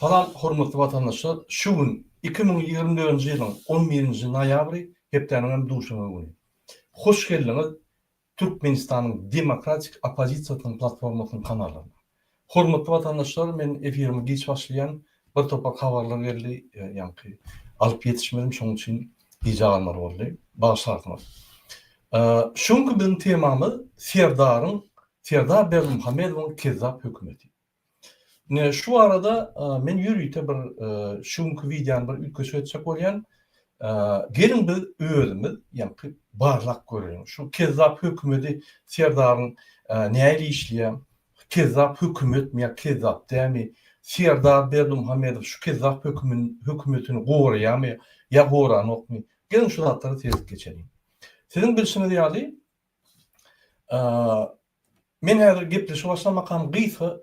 Salam hormatly watandaşlar şu gün iki müň ýigrimi dördünji ýylyň on birinji noýabry hepdäniň hem duşenbe güni. Hoş geldiňiz Türkmenistanyň demokratik oppozisiýasynyň platformasynyň kanalyna. Hormatly watandaşlar men efirimi giç başlaýan bir topar habarlar geldi ýaňky alyp ýetişmedim şoň üçin gijä galmaly boldy. Bagyşlarsyňyz. Şu günki biziň temamyz Serdaryň Serdar Berdimuhamedowyň kezzap hökümeti. Ine şu barada men ýörite bir şu günki wideony bir üýtgeşik etjek bolýan. Geliň biz özümiz ýaňky barlap göreliň. Şu kezzap hökümeti Serdaryň nähili işleýär? Kezzap hökümetmi ýa kezzap dämi? Serdar Berdimuhamedow şu kezzap hökümin hökümetini goraýarmy ýa goranokmy? Geliň şu zatlary seredip geçeliň. Siziň bilşiňiz ýaly Men häzir gepleşigi başlamakam gysga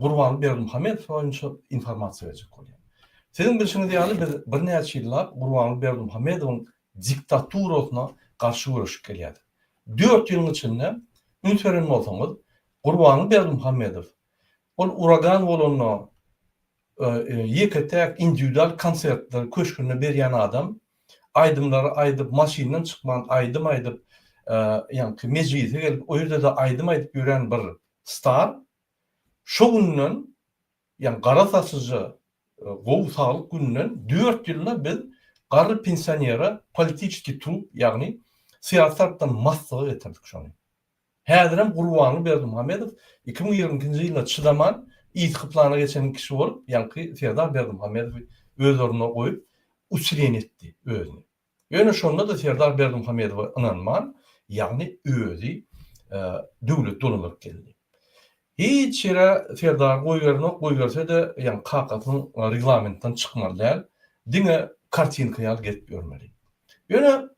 Gurbanguly Berdimuhamedow boýunça informasiýa berjek bolýan. Siziň bilşiňiz ýaly biz birnäçe ýyllap Gurbanguly Berdimuhamedowyň diktaturasyna garşy göreşip gelýärdik. Dört ýylyň içinde üns beren bolsaňyz Gurbanguly Berdimuhamedow Ol uragan bolanda ýeke-täk indiwidual konsertleri köşgünde berýän adam, aýdymlary aýdyp maşyndan çykman aýdym aýdyp ýaňky mejlise gelip o ýerde-de aýdym aýdyp ýören bir star şo günden ýaňy gara saçyja gowy saglyk gününden dört ýylda biz garry pensionere politiçeskiý trup ýagny syýasy tarpdan maslyga getirdik şony. Häzirem Gurbanly Berdimuhamedow iki müň ýigrimi ikinji ýyla çydaman, yzky plana geçen kişi bolup, ýaňky Serdar Berdimuhamedowy öz ornuna goýup, uçrin etdi özüni. Ýöne şonda-da Serdar Berdimuhamedowa ynanman, ýagny özi döwleti dolandyryp geldi. Hiç ýere Serdary goýberenok, goýberse-de, ýaňky kakasynyň reglamentinden çykmaly däl, diňe kartinka ýaly gezip ýörmeli. Ýöne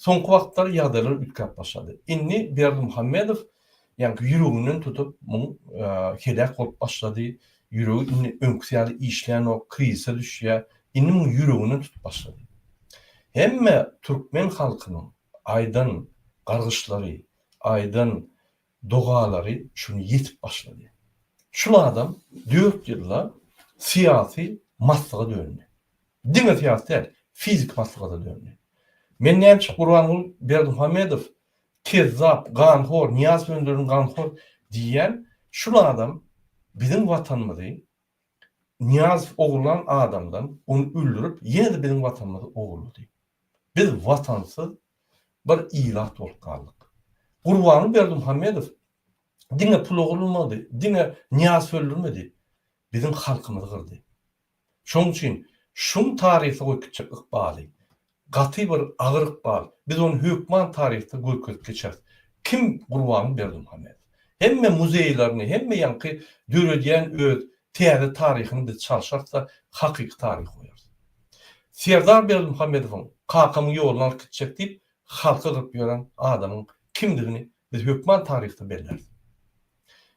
Soňky wagtlar ýagdaýlar üýtgäp başlady. Indi Berdimuhamedow ýaňky ýüreginden tutup muň heläk bolup başlady, ýüregi indi öňküsi ýaly işlänok, krizise düşýär, indi muň ýüreginden tutup başlady. Hemme türkmen halkynyň aýdan gargyşlary, aýdan dogalary şuny ýetip başlady. Şul adam dört ýylda syýasy maslyga döndi. Diňe syýasy däl, fiziki maslygada döndi. Men nämişik Gurbanguly Berdimuhamedow kezzap, ganhor, Nyýaz Önderin ganhor diýýän, şul adam biziň watanymyzy Nyýazow ogurlan adamdan, ony öldürip, ýene-de biziň watanymyzy ogurlady. Biz watansyz Bir ilat bolup galdyk. Gurbanguly Berdimuhamedow diňe pul ogurlamady, diňe Nyýaz höldürmedi, biziň halkymyzy gyrdy. Şoň üçin şuň taryha goýup gitjek ykbaly, gaty bir agyr ykbal, biz ony hökman taryhda görkezip geçeris. Kim Gurbanguly Berdimuhamedow? Hemme muzeýlerini, hemme ýaňky döredýän öz täze taryhyny biz çalşarys-da, hakyky taryhy goýarys. Serdar Berdimuhamedowyň kakamyň ýoluny alyp gitjek diýip halky gyryp ýören adamyň kimdigini biz hökman taryhda belläris.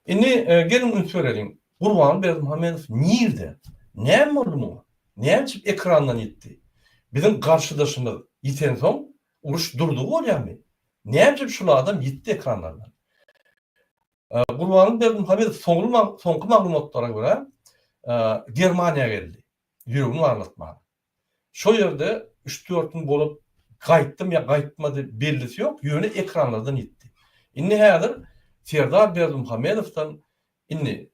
Indi geliň üns bereliň, Gurban Berdimuhamedow nirde? Näme boldy muňa? Näme üçin ekrandan ýitdi? Biziň garşydaşymyz ýitensoň uruş durdy bolýarmy? Näme üçin şul adam ýitdi ekranlardan? Gurban Berdimuhamedow soňky maglumatlara görä Germaniýa geldi. Ýüregim aglatmady. Şo ýerde üç-dört gün bolup gaýtdym ýa gaýtmady bellisi ýok, ýöne ekranlardan ýitdi. Indi häzir Serdar Berdimuhamedowdan indi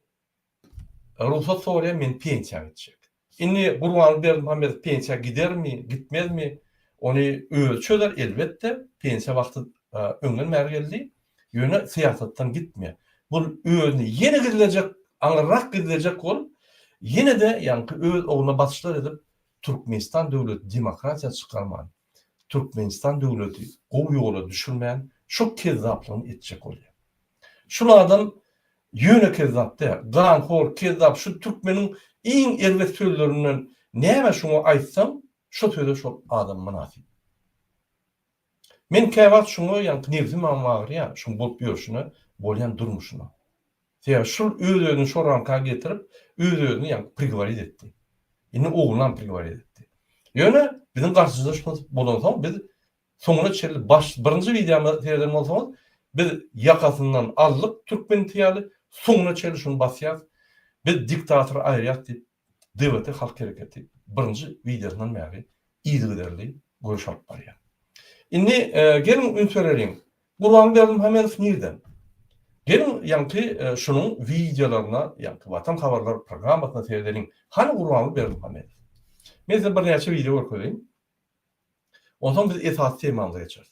rugsat soraýan men pensiýa gitjek. Indi Gurbanguly Berdimuhamedow pensiýa gidermi, gitmezmi ony özi çözer elbetde, pensiýa wagty öňden bäri geldi. Ýöne syýasatdan gitmeýär. Bu özüni ýene gizlejek, aňyrrak gizlejek bolup, ýene-de ýaňky öz ogluna basyşlar edip, Türkmenistan döwleti demokratiýa çykarman, Türkmenistan döwleti gowy ýola düşürmän, şo kezzaplygyny etjek bolýar. Şul adam ýöne kezzap däl, ganhor, kezzap, şu türkmeniň iň erbet sözlerinden näme şuňa aýtsaň, şo söze şol adam mynasyp. Men käwagt şuňa ýaňky nebsim agym agyrýar, şuň bolup ýörşüne, bolýan durmuşyna. Sebäbi şul öz-özüni şo ramka getirip, öz-özüni ýaňky prigoworit etdi. Indi oglunam prigoworit etdi. Ýöne biziň garşymyza şo bolansoň biz soňuna çenli baş birinji wideomyzy sereden bolsaňyz, biz ýakasyndan aldyk türkmeniti ýaly, soňuna çenli şuny basýas, biz diktator aýyrýas diýip DWT Halk Hereketi birinji wideosyndan bäri yzygiderli göreş alyp barýar. Indi geliň üns bereliň. Gurban Berdimuhamedow nirden? Geliň ýaňky şunuň wideolaryna, ýaňky Watan habarlar programmasyna seredeliň. Hany Gurbanguly Berdimuhamedow? Men size birnäçe wideo görkezeýin. Onsoň biz esasy temamyza geçeris.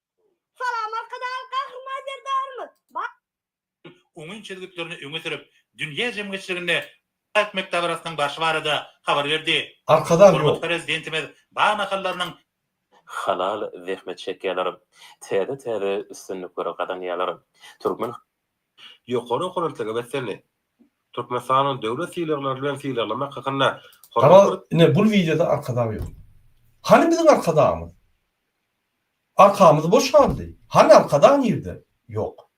Salam Arkadag Gahryman Serdarymyz Bak. Oňyn çözgütlerini öňe sürüp, dünýä jemgyýetçiliginde Türkmen dabarasynyn barşy barada habar berdi. Arkadag ýok. Hormatly Prezidentimiz bag nahallarynyň. Halal zähmet çekýärler. Täze täze üstünlikleri gazanýarlar. Türkmen. Ýokary okuw belentlige beslenildi. Türkmenistanyň döwlet sylaglary bilen sylaglamak hakynda Hormatly. Garaz ine bul wideoda Arkadag ýok. Hany biziň Arkadagymyz? Arkamyz boş galdy. Hany arkadag nirde? Ýok.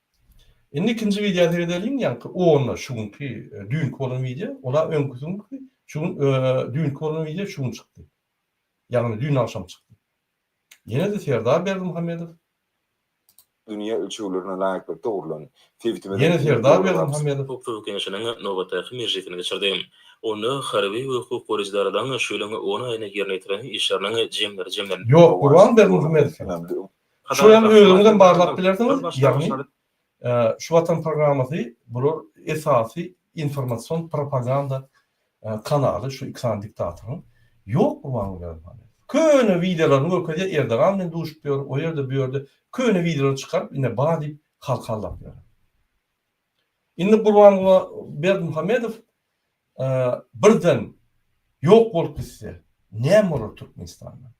Indi ikinji wideo seredeliň ýaňky onda şu günki düýnki bolan wideo ola öňküsi günki şu gün düýnki bolan wideo şu gün çykdy. Ýagny düýn agşam çykdy. Ýene-de Serdar Berdimuhamedow. dünýä ölçeglerine laýyklykda gurlan sebitimiziň Ýene Serdar Berdimuhamedow. Howpsuzlyk Geňeşiniň nobatdaky mejlisini geçirdi. Onda harby we hukuk goraýjy edaradan şu ýylyň on aýynda ýerine ýetirilen işleriniň jemleri jemlendi. Ýok, Gurban Berdimuhamedow. Şo ýaly özüňizem barlap bilersiňiz, ýagny Şu Watan programmasy bular esasy informasion propaganda Kanaly şu iki sany diktatoryň ýok gurban beripany. Köne wideolaryny görkezýär Erdogan bilen duşup ýör o ýerde bu ýerde köne wideolary çykaryp ine ba diýip halka aldap ýör. Indi Gurbanguly Berdimuhamedow birden ýok bolup gitse näme bolar Türkmenistanda.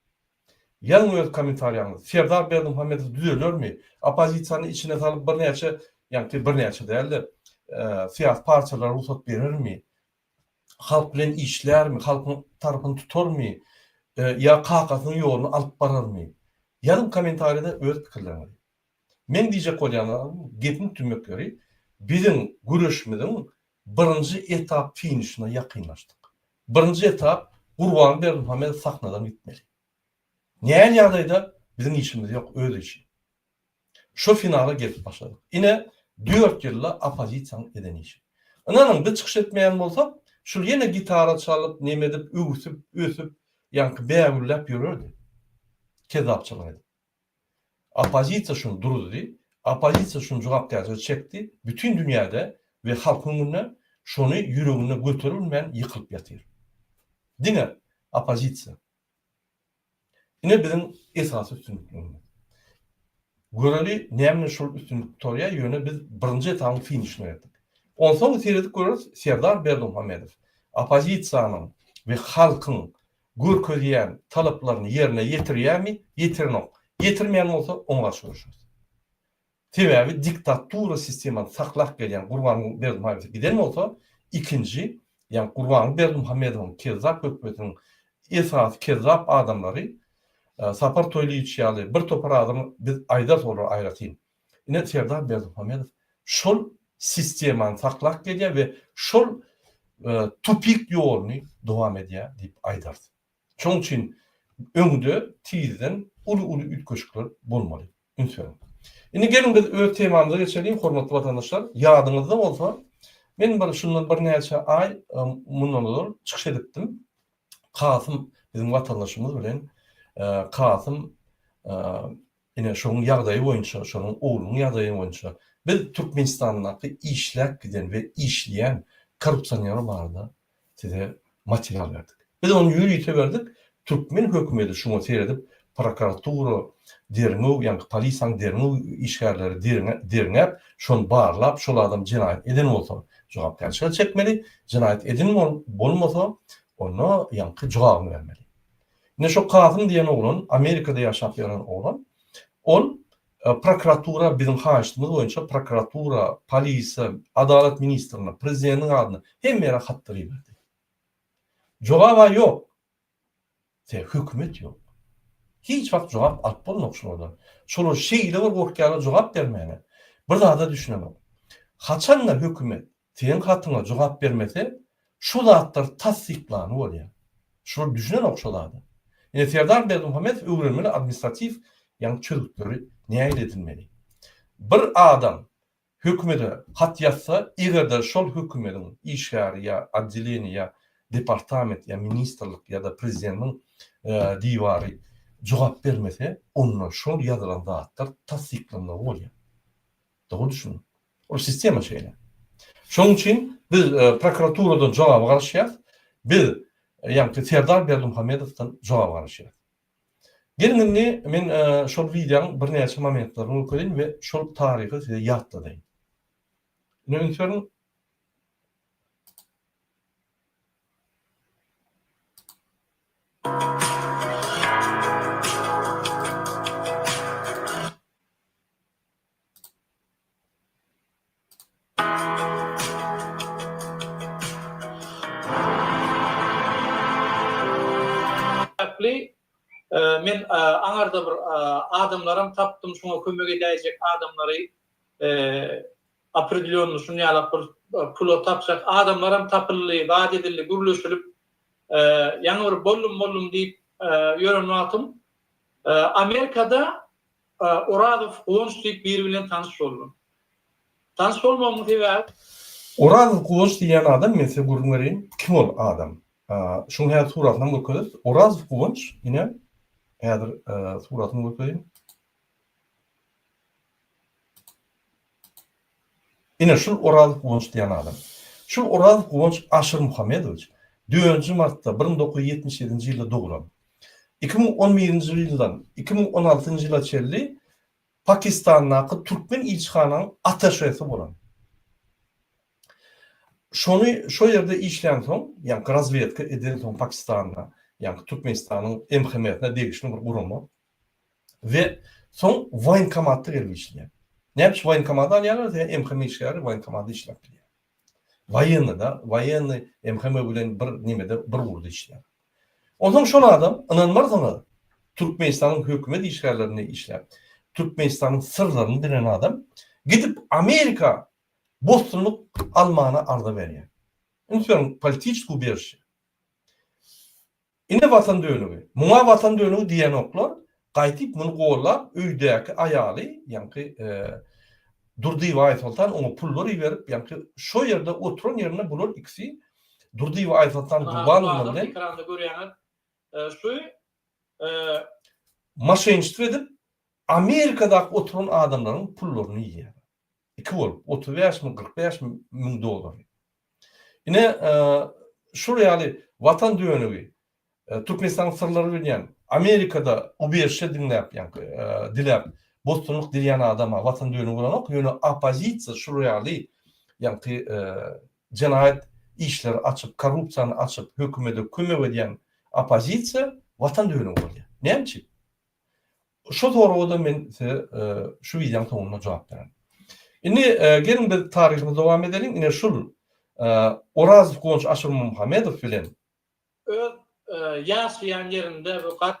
Ýazyň öz kommentariýaňyzy. Serdar Berdimuhamedow düzelermi? Oppozisiýany içine salyp birnäçe, ýagny birnäçe dälde, syýasy partiýalara rugsat berermi? Halk bilen işlärmi? Halkyň tarapyny tutarmy? Ýa kakasynyň ýoluny alyp bararmy? Ýazyň kommentariýada öz pikirleriňizi. Meň diýjek bolýan zadym, gepiň tümmekleri, biziň göreşimiziň birinji etap finişine ýakynlaşdyk. Birinji etap, Gurban Berdimuhamedow sahnadan gitmeli. Näl ýagdaýda biziň işimiz ýok öz işi. Şu finala gelip başladyk. Ine dört ýylda oppozisiýaň eden işi. Ynanyň biz çykyş etmeýän bolsak, şul ýene gitara çalyp, neme edip, öwsüp, ösüp, ýaňky bägülläp ýörerdi. Kezzapçylyk edip. Oppozisiýa şuny duruzdy, oppozisiýa şuny jogapkärçilige çekdi, bütin dünýäde we halkyň öňünde şuny ýüreginde göteri bilmän ýykylyp ýatyr. Diňe oppozisiýa. Ine biziň esasy üstünliklerimiz. Göreli näme bilen şol üstünlik gutarýar, ýöne biz birinji etabyň finişine ýetdik. Onsoň seredip göreris Serdar Berdimuhamedow oppozisiýanyň we halkyň görkezýän talaplaryny ýerine ýetirýärmi, ýetirenok, ýetirmeýän bolsa oňa garşy göreşeris. Sebäbi diktatura sistemany saklap gelýän Gurbanguly Berdimuhamedow giden bolsa, ikinji, ýagny Gurbanguly Berdimuhamedowyň kezzap hökmetiniň esasy kezzap adamlary Sapar Toýlyýewiç ýaly bir topar adamy biz aýdarys olar aýratyn. Ine Serdar Berdimuhamedow şol sistemany saklap gelýär we şol tupik ýoluny dowam edýär diýip aýdarys. Şonuň üçin öňde tizden uly-uly üýtgeşikler bolmaly. Üns beriň. Indi geliň biz öz temamyza geçeliň hormatly watandaşlar. Ýadyňyzda bolsa men bir şundan birnäçe aý mundan ozal çykyş edipdim. Kasym biziň watandaşymyz bilen Kasym Ine, şonuň ýagdaýy boýunça, şonuň oglunyň ýagdaýy boýunça biz Türkmenistandaky işläp giden we işleýän korrupsioner barada size material berdik. Biz ony ýörite berdik, türkmen hökümeti şuňa seredip, prokuratura derňew, ýaňky polisiýanyň derňew işgärleri derňäp, şony barlap, şol adam jenaýat eden bolsa, jogapkärçilige çekmeli, jenaýat eden bolmasa, onda ýaňky jogabyny bermeli. Ine şo Kasym diýen oglan, Amerikada ýaşap ýören oglan. Ol prokuratura biziň haýyştymyz boýunça prokuratura, polise, Adalat ministrine, prezidentiň adyna hemme ýere hatlar iberdi. Jogaba ýok. Se hökümet ýok. Hiç wagt jogap alyp bolmok şulardan. Şolar şeýle bir gorkýarlar jogap bermäne. Bir zada düşünemok. Haçanda hökümet Seň hatyňa jogap bermese, şu zatlar tassyklany bolýa. Şular düşünenok şu zada. Ine Serdar Berdimuhamedow öwrenmeli administratiw ýagny çözgütleri nägile edinmeli. Bir adam hökümede hat ýazsa, egerde şol hökümediň işgäri ýa oddeleniýa ýa departament ýa ministrlik ýa-da prezidentiň diwary jogap bermese, onda şol ýazylan zatlar tassyklanmagy bolýa. Dogry düşüniň. Ol sistema şeýle. Şonuň üçin biz prokuraturadan jogaba garaşýarys. Biz ýaňky Serdar Berdimuhamedowdan jogaba garaşýarys. Geliň indi men şol wideonyň birnäçe momentlerini görkezeýin we şol taryhy size ýatladaýyn. Ine üns beriň. Sebäpli men aňarda bir adamlaram tapdym şuňa kömek edäýjek adamlary opredelýonny şuny ýalak bir pula tapjak adamlaram tapyldy zat edildi gürleşilip ýaňy bir bollum bollum diýip ýören wagtym Amerikada Orazow, Guwanç diýip biri bilen tanyş boldum. Tanyş bolmagymyň sebäbi. Orazow, Guwanç diýýän adam, men size gürrüň bereýin, kim ol adam? Şuň häzir suratynam görkezeris. Orazow Guwanç, ine, häzir suratyny görkezeýin. Ine, şul Oraz Guwanç diýen adam. Şul Oraz Guwanç Aşyrmuhammedowiç dördünji martda bir müň dokuz ýüz ýetmiş ýedinji ýylda doglan. Iki müň on birinji ýyldan iki müň on altynjy ýyla çenli Pakistandaky türkmen ilçihananyň ataşesi bolan. Şony şo ýerde işlänsoň, ýaňky razwedka edensoň Pakistanda, ýaňky Türkmenistanyň MHM-sine degişli bir gurama, we soň woýenkomatda gelip işleýär. Näme üçin woýenkomady alýarlar? Sebäbi MHM işgäri woýenkomatda işläp bilýär. Woýennyda, woýenny MHM bilen bir nimede, bir ugurda işleýär. Onsoň şol adam, ynanmarsyňyz, Türkmenistanyň hökümet işgärlerinde işläp, Türkmenistanyň syrlaryny bilen adam, gidip Amerika bossanlyk almana arza berýär. Üns beriň, politiçki ubiežişe. Ine Watan dönügi. Muňa Watan dönügi diýenoklar, gaýtyp muny gollap öýdäki aýaly, ýaňky Durdyýewa Aýsoltan oňa pullar iberip, ýaňky şo ýerde oturan ýerinde bular ikisi Durdyýewa Aýsoltan Gurbanowna bilen Hazir ekranda görýäňiz şu moşenniçtwo edip Amerikadaky oturan adamlaryň pullaryny iýýärler. Iki bolup, otuz bäşmi, kyrk bäşmi müň dollary. Ine, şol ýaly Watan dönügi, Türkmenistanyň syrlary bilýän, Amerikada ubežişe diňläp, ýaňky diläp, bossanlyk dileýän adama Watan dönügi bolanok, ýöne oppozisiýa şul ýaly, ýaňky jenaýat işleri açyp, korrupsiýany açyp, hökümede kömek edýän oppozisiýa Watan dönügi bolýar. Näme üçin? Şo soraga-da men size şu wideoň soňunda jogap bererin. Indi geliň biz taryhymyzy dowam edeliň. Ine şul Orazow Guwanç Aşyrmuhamedow bilen. Öz ýaşaýan ýerinde we gat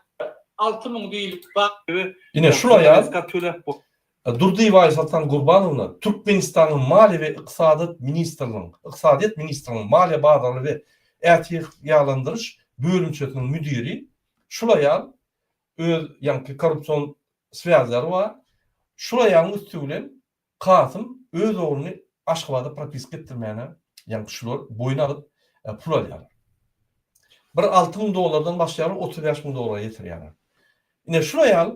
alty müň diýlip bar. Ine şul aýal Durdyýewa Aýsoltan Gurbanowna Türkmenistanyň Maliýe we ykdysadyýet ministrliginiň, Ykdysadyýet ministrliginiň Maliýe bazarly we ätiýalandyryş bölümçesiniň müdiri. Şul aýal öz ýaňky korrupsion swýazlary bar. Şulaýaň üsti bilen Kasym öz ogluny Aşgabada propiska etdirmäne ýaňky şular boýun alyp pul alýarlar. Bir alty müň dollardan başlaýarlar, otuz bäş müň dollara ýetirýärler. Ine şulaýal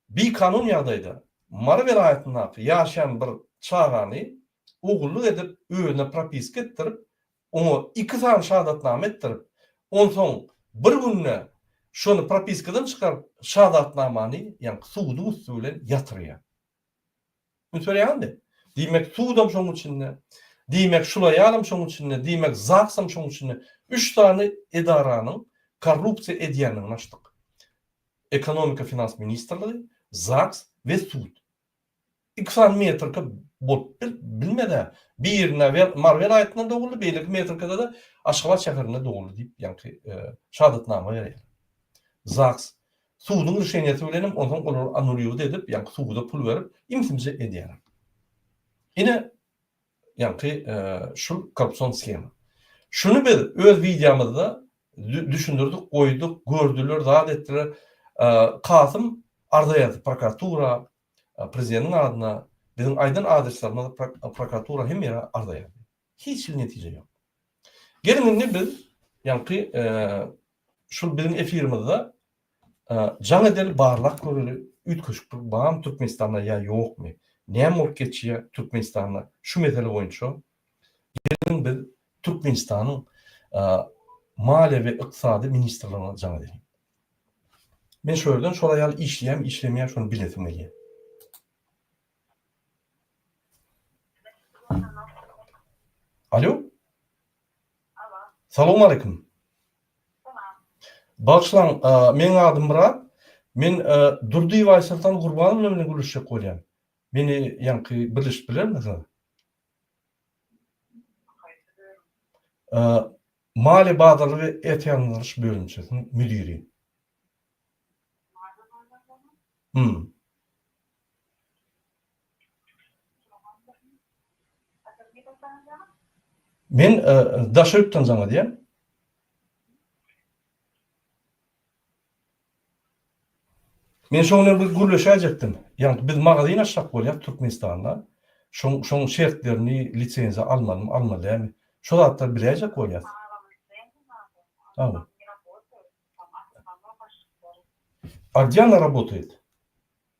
bikanun ýagdaýda Mary welaýatyndaky ýaşaýan bir çagany ogullyk edip özüne propiska etdirip oňa iki sany şahadatnama etdirip, onsoň bir günde şony propiskadan çykaryp, şahadatnamany, ýagny suduň üsti bilen ýatyrýar. Üns berýäňizmi? Diýmek, sudam şoň içinde, diýmek, şulaýanam şoň içinde, diýmek, ZAGS-am şoň içinde, üç sany edaranyň korrupsiýa edýändigini açdyk. Ekonomika-finans ministrligi, ZAGS we sud. Iki sany metrika bolup bilmez-ä. Biri Mary welaýatynda doguldy, beýleki metrikada-da Aşgabat şäherinde doguldy diýip, ýaňky şahadatnama berýär. ZAGS suduň rişeniýesi bilen hem onsoň olary annuliwt edip, ýaňky suda pul berip, imsimje edýär. Ine, Ýaňky şul korrupsion sgema. Şuny biz öz wideomyzda düşündirdik, goýduk, gördüler, zat etdiler. Kasym arza ýazdy prokuratura, prezidentiň adyna, biziň aýdan adreslerimiz prokuratura hemme ýere arza ýazdy. Hiç hili netije ýok. Geliň indi biz ýaňky şul biziň efirimizde Jaň edeli barlak göreli üýtgeşiklik barmy Türkmenistanda ýa ýokmy? Näme bolup geçýär Türkmenistanda şu mesele boýunça? Geliň biz Türkmenistanyň Maliýe we ykdysady ministrligine jaň edeliň. Men şu ýerden şol aýal işleýärmi işlemeýär şony bilesim gelýär. Alýo. Salam aleýkum. Bagyşlaň, meniň adym Myrat. Men Durdy we Aýsoltan Gurbanowna bilen gürleşjek bolýan. Meni ýaňky birleşip bilermiňiz? Maliýe bazarlygy we ertehanadygyryş bölümçesiniň müdiri. Maliýe bazarlygynyň? Hum. Men daş öýtdüm saňa diýen. Men şoň bilen bir gürleşäýjekdim. Ýagny biz magazyn açjak bolýas Türkmenistanda. Şoň şoň şertlerini, lisenziýa almalymy, almaly dälmi? Şo zatlary biläýjek bolýas. A gdje ona rabotaýt?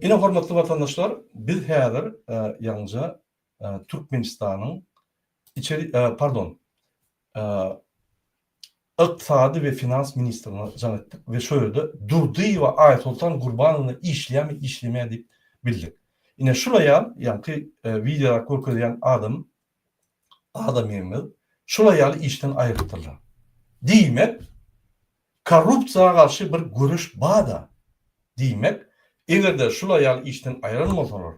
Ine hormatly watandaşlar biz häzir ýaňja Türkmenistanyň içeri pardon Ykdysady we finans ministrine jaň etdik we şo ýerde Durdyýewa Aýsoltan Gurbanowna işleýärmi işlemeýär diýip bildik. Ine şulaýam ýaňky wideoda görkezýän adam Adam ýeňmez. Şular ýaly işden aýrypdyrlar. Diýmek, korrupsiýa garşy bir göreş bar-da. Diýmek, eger-de şular ýaly işden aýran bolsalar,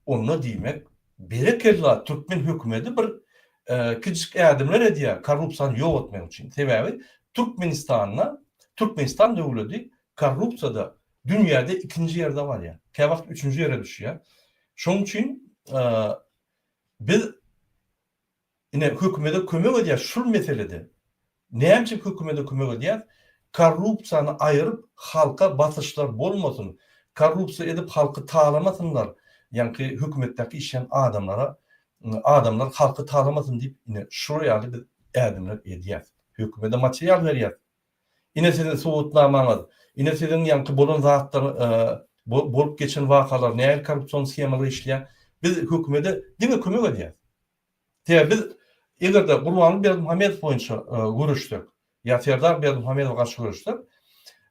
onda diýmek, berekella, türkmen hökümeti bir kiçijik ädimler edýär korrupsiýany ýok etmek üçin. Sebäbi Türkmenistanda, Türkmenistan döwleti korrupsiýada dünýäde ikinji ýerde barýar. Käwagt üçünji ýere düşýär. Şonuň üçin Biz ine hökümede kömek edýäs şul meselede. Näme üçin hökümede kömek edýäs? Korrupsiýany aýyryp halka basyşlar bolmasyn, korrupsiýa edip halky talamasynlar, ýaňky hökümetdäki işleýän adamlara adamlar halky talamasyn diýip ine şular ýaly biz ädimler edýäs. Hökümede material berýäs. Ine siziň subutnamaňyz, ine siziň ýaňky bolan zatlar bolup geçen wakalar nähili korrupsion shemalar işleýär. Biz hökümede diňe kömek edýäs. Sebäbi biz eger-de Gurbanguly Berdimuhamedow boýunça göreşsek ýa Serdar Berdimuhamedowa garşy göreşsek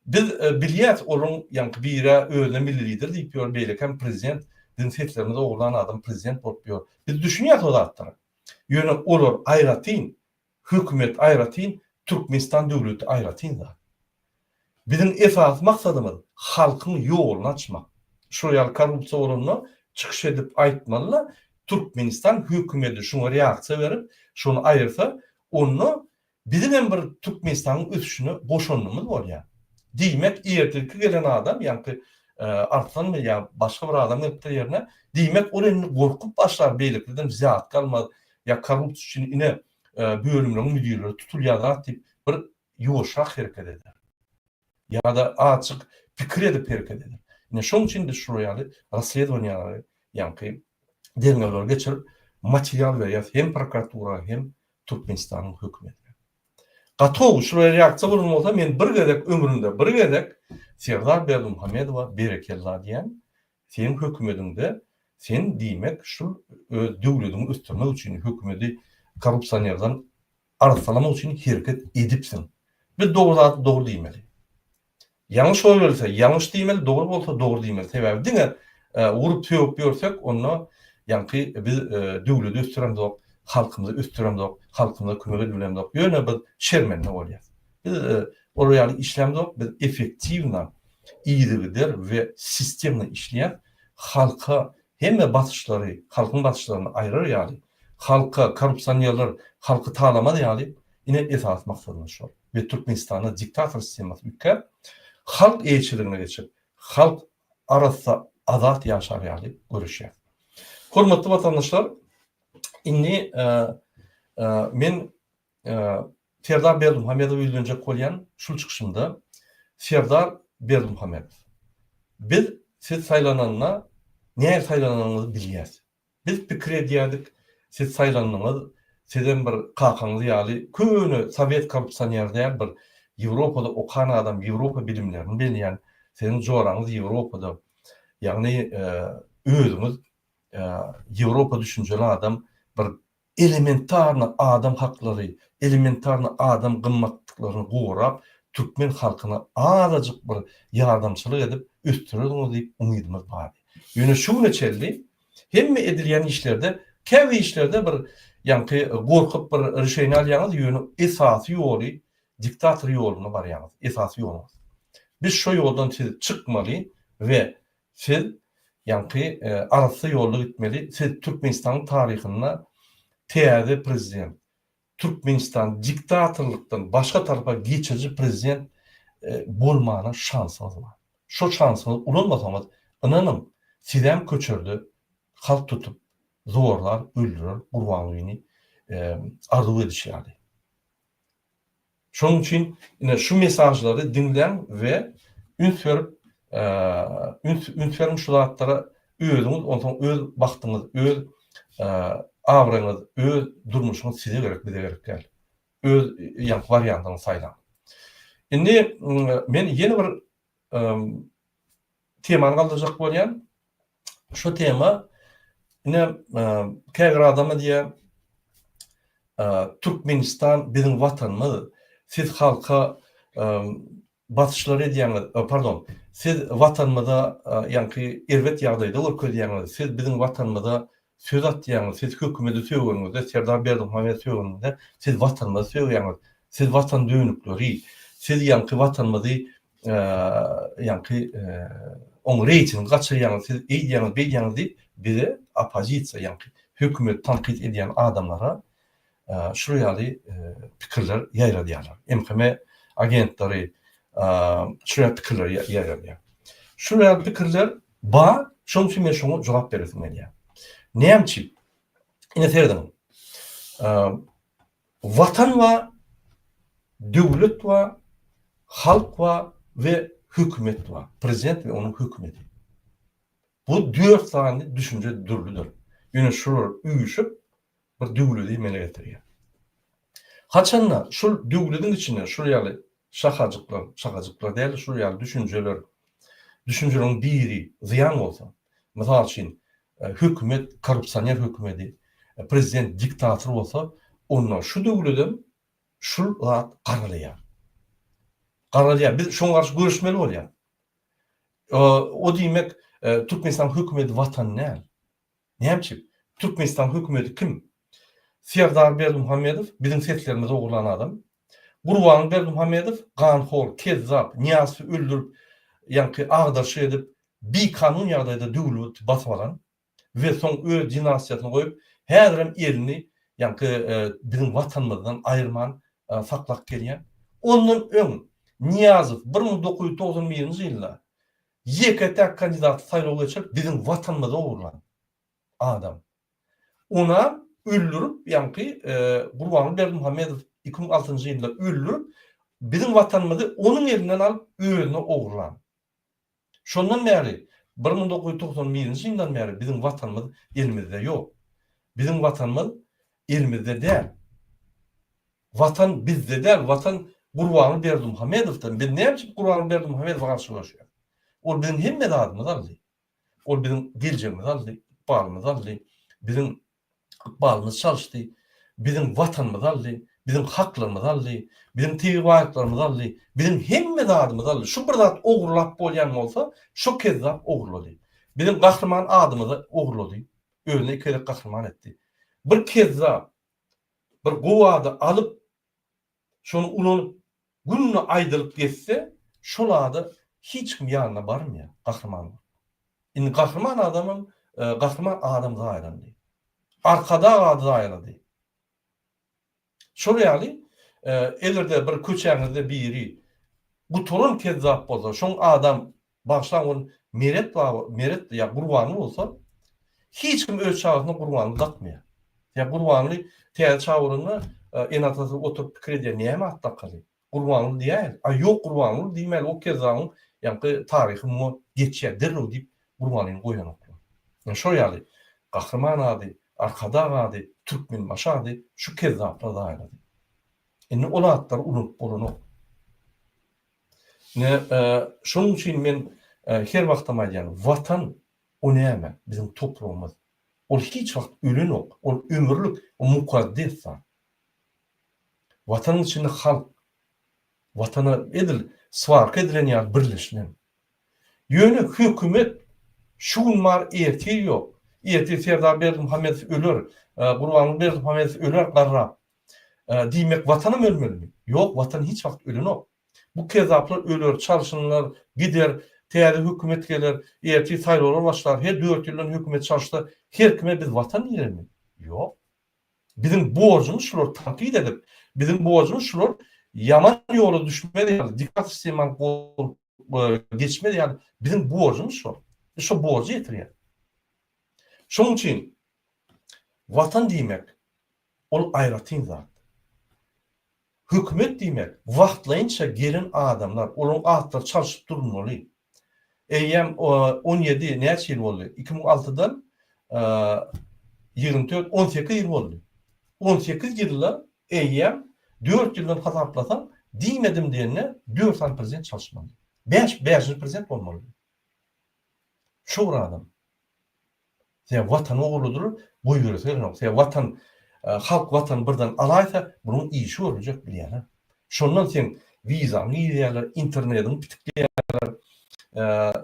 biz bilýäs olaryň ýaňky birä özüne milli lider diýip ýör beýlekäm prezident biziň seslerimizi ogurlan adam prezident bolup ýör. Biz düşünýäs o zatlara. Ýöne olar aýratyn Hökümet aýratyn, Türkmenistan döwleti aýratyn zat. Biziň esasy maksadymyz halkyň ýoluny açmak. Şol ýaly korrupsiýa bolanda çykyş edip aýtmaly-da, Türkmenistan hökümedi şuňa reaksiýa berip, şony aýyrsa, onda biziň hem bir Türkmenistanyň ösüşine goşandymyz bolýar. Diýmek, ertirki gelen adam, ýaňky Arslanmy ýa başga bir adam gelipdir ýerine, diýmek, ol indi gorkup başlar, beýlekiden zyýat galmaz, ýa korrupsiýa üçin ine bölümleriň müdirleri tutulýar zat diýip bir ýuwaşrak hereket eder. Ýa-da acyk pikir edip hereket eder. Ine şoň üçin biz şular ýaly rassledowaniýalary ýaňky derňewleri geçirip material berýäs hem prokuratura hem Türkmenistanyň hökümetine. Gatow şulara reaksiýa bolan bolsa men bir gezek ömrümde bir gezek Serdar Berdimuhamedowa berekella diýen Seň hökümediňde sen diýmek şul öz döwlediňi ösdürmek üçin hökümedi korrupsionerden arassalamak üçin hereket edipsiň. Biz dogry zady dogry diýmeli. Ýalňyş bolybelse ýalňyş diýmeli, dogry bolsa dogry diýmeli. Sebäbi diňe urup sögüp ýörsek onda ýaňky biz döwledi ösdüremzok, halkymyzy ösdüremzok, halkymyza kömek edip bilemzok. Ýöne biz şermende bolýas. Biz olar ýaly işlämzok, biz effektiwna, yzygider we sistemna işleýäs. Halka hemme basyşlary, halkyň basyşlaryny aýrar ýaly, halka korrupsionerler halky talamaz ýaly, ine esasy maksadymyz şol. Biz Türkmenistanda diktator sistemasy üýtgäp, halk eýeçiligine geçip, halk arassa, azat ýaşar ýaly göreşýäs. Hormatly watandaşlar, indi men Serdar Berdimuhamedowa ýüzlenjek bolýan şul çykyşymda Serdar Berdimuhamedow biz siz saýlananda näge saýlananyňyzy bilýäs. Biz pikir edýärdik siz saýlandyňyz sizem bir kakaňyz ýaly köne sowet korrupsioner däl bir Ýewropada okan adam Ýewropa bilimlerini belýän siziň joraňyz Ýewropada ýagny özüňiz Ýewropa düşünjeli adam bir Elementarny adam haklary, elementarny adam gymmatlyklaryny gorap, türkmen halkyna azajyk bir ýardamçylyk edip ösdürerdiňiz diýip umydymyz bardy. Ýöne şu güne çelli hemme edilýän işlerde, käbir işlerde bir ýaňky gorkup bir rişeni alýaňyz, ýöne esasy ýoly diktator ýoluna barýaňyz, esasy ýoluňyz. Biz şo ýoldan siz çykmaly we Siz ýaňky arassa ýolda gitmeli siz türkmenistanyň taryhynda täze prezident türkmenistan diktatorlykdan başga tarapa geçiriji prezident bolmana şansyňyz bar şo şansyňyz ulanmasaňyz ynanyň sizem köçerde halk tutup zorlar öldürer gurbangulyny arzuw edişi ýaly. Şonuň üçin ine şu mesajlary diňläň we üns berip üns üns beriň şu zatlara özüňiz onsoň öz bagtyňyz öz abraýyňyz öz durmuşyňyz size gerek bize gerek däl. Öz ýaňky wariantyňyzy saýlaň. Indi men ýene bir Temany galdyrjak bolýan. Şu tema ine käbir adama diýe Türkmenistan biziň watanymyz. Siz halka basyşlar edýäňiz, pardon, siz watanymyza ýaňky erbet ýagdaýda görkezýäňiz. Siz biziň watanymyza söz atýaňyz. Siz hökümeti sögeniňizde, Serdar Berdimuhamedowy sögeniňizde, siz watanymyzy sögýäňiz. Siz watan dönükleri. Siz ýaňky watanymyzy ýaňky oň reýtingi gaçyrýaňyz siz eýdýäňiz beýdýäňiz diýip bize oppozisiýa ýaňky hökümeti tankyt edýän adamlara şul ýaly pikirler ýaýradýarlar MHM agentleri şul ýaly pikirler ýaýradýar şul ýaly pikirler bar şoň üçin men şoňa jogap beresim gelýär näme üçin ine serediň Watan bar, döwlet bar, halk bar we hökümet bar, prezident we onuň hökümeti. Bu dört sany düşünje dürlüdir. Ýöne şular üýşüp bir döwleti emele getirýär. Haçanda şul döwletiň içinde şul ýaly Şahajyklar, şahajyklar däl-de şular ýaly düşünjeler, düşünjeleriň biri zyýan bolsa, mysal üçin, hökümet korrupsioner hökümedi, prezident diktator bolsa, onda şu döwledem şul zat garalýar. Garalýar. Biz şoňa garşy göreşmeli bolýar. O diýmek, Türkmenistanyň hökümedi watan däl. Näme üçin? Türkmenistan hökümeti kim? Serdar Berdimuhamedow biziň seslerimizi ogurlan adam. Gurban Berdimuhamedow ganhor, kezzap, Niýazowy öldürip, ýaňky agdaryşyk edip, bikanun ýagdaýda döwleti basyp alan we soň öz dinastiýasyny goýup, häzirem elini ýaňky biziň Watanymyzdan aýyrman saklap gelýän. Ondan öň Niýazow bir müň dokuz ýüz togsan birinji ýylda Ýeke täk kandidaty saýlaw geçirip biziň watanymyzy ogurlan adam. Onam öldürip ýaňky Gurbanguly Berdimuhamedow iki müň altynjy ýylda öldürip biziň watanymyzy onuň elinden alyp özüne ogurlan. Şondan bäri bir müň dokuz ýüz togsan birinji ýyldan bäri biziň watanymyz elimizde ýok. Biziň watanymyz elimizde däl. Watan bizde däl watan Gurbanguly Berdimuhamedowda biz näme üçin Gurbanguly Berdimuhamedowa garşy göreşýäs. Ol biziň hemme zadymyzy aldy. Ol biziň geljegimizi aldy, ykbalymyzy aldy, biziň ykbalymyzy çalyşdy, biziň watanymyzy aldy, biziň haklarymyzy aldy, biziň tebigy baýlyklarymyzy aldy, biziň hemme zadymyzy aldy. Şu bir zat ogurlap bolýan bolsa şo kezzap ogurlady. Biziň gahryman adymyzy ogurlady. Özüni iki gezek gahryman etdi. Bir kezzap bir gowady alyp, şony ulanyp, günde aýdylyp geçse, şol ada hiç kim ýanyna barmaýar, gahryman bolup. Indi gahryman adamam, gahryman adam zaýalandy. Arkadag ady zaýalady. Şol ýaly, eger-de bir köçäňizde biri gutaran kezzap bolsa, şoň adam Bagyşlaň ol Meret baba, Meret ýa Gurbanly bolsa, hiç kim öz çagasyna Gurbanly dakmaýar. Ýa Gurbanly täze çaga bolanda, ene-atasy oturyp pikir edýär, näme at dakaly? Gurbanly diýäýeli. A ýok, Gurbanly diýmäli, o kezzabyň ýaňky taryhy muňa geçýär, derrew diýip Gurbanlyny goýanoklar. Ine şol ýaly Gahryman ady, Arkadag ady, Türkmenbaşy ady şu kezzaplar zaýalady. Indi ol atlary ulanyp bolanok. Ine, şonuň üçin men her wagtam aýdýan, Watan, o näme? Biziň topragymyz. Ol hiç wagt ölenok, ol ömürlik, o mukaddes zat. Watanyň içinde halk, Watana edil swarka edilen ýaly birleşilen. Ýöne hökümet şu gün bar, ertir ýok. Ertir Serdar Berdimuhamedow öler, Gurbanguly Berdimuhamedow öler garrap. Diýmek watanam ölmelimi? Ýok watan hiç wagt ölenok. Bu kezzaplar öler, çalşynlar, gider, täze hökümet geler, ertir saýlawlar başlar, her dört ýyldan hökümet çalşsa her kime biz watan diýermi? Ýok. Biziň borjumyz şulary tankyt edip, biziň borjumyz şular ýaman ýola düşmez ýaly, diktator sistemany gorup geçmez ýaly biziň borjumyz şol. Biz şo borjy ýetirýäs. Şonuň üçin watan diýmek Ol aýratyn zat. Hökümet diýmek, wagtlaýynça gelen adamlar, olaryň atlary çalşyp durulmaly. Eýýäm on ýedi, näçe ýyl boldy? Iki müň altydan ýigrimi dört, on sekiz ýyl boldy. On sekiz ýylda eýýäm dört ýyldan hasaplasaň, diýmedim diýende dört sany prezident çalyşmaly. Bäş, bäşinji prezident bolmalydy. Şo bir adam. Sebäbi Watan ogludyr, goýberesi gelenok. Sebäbi Watan, halk Watany birden alaýsa, bunuň işi görüljek, bilýän-ä. Şondan seň wizaňy girýärler, internetiňi pitikleýärler,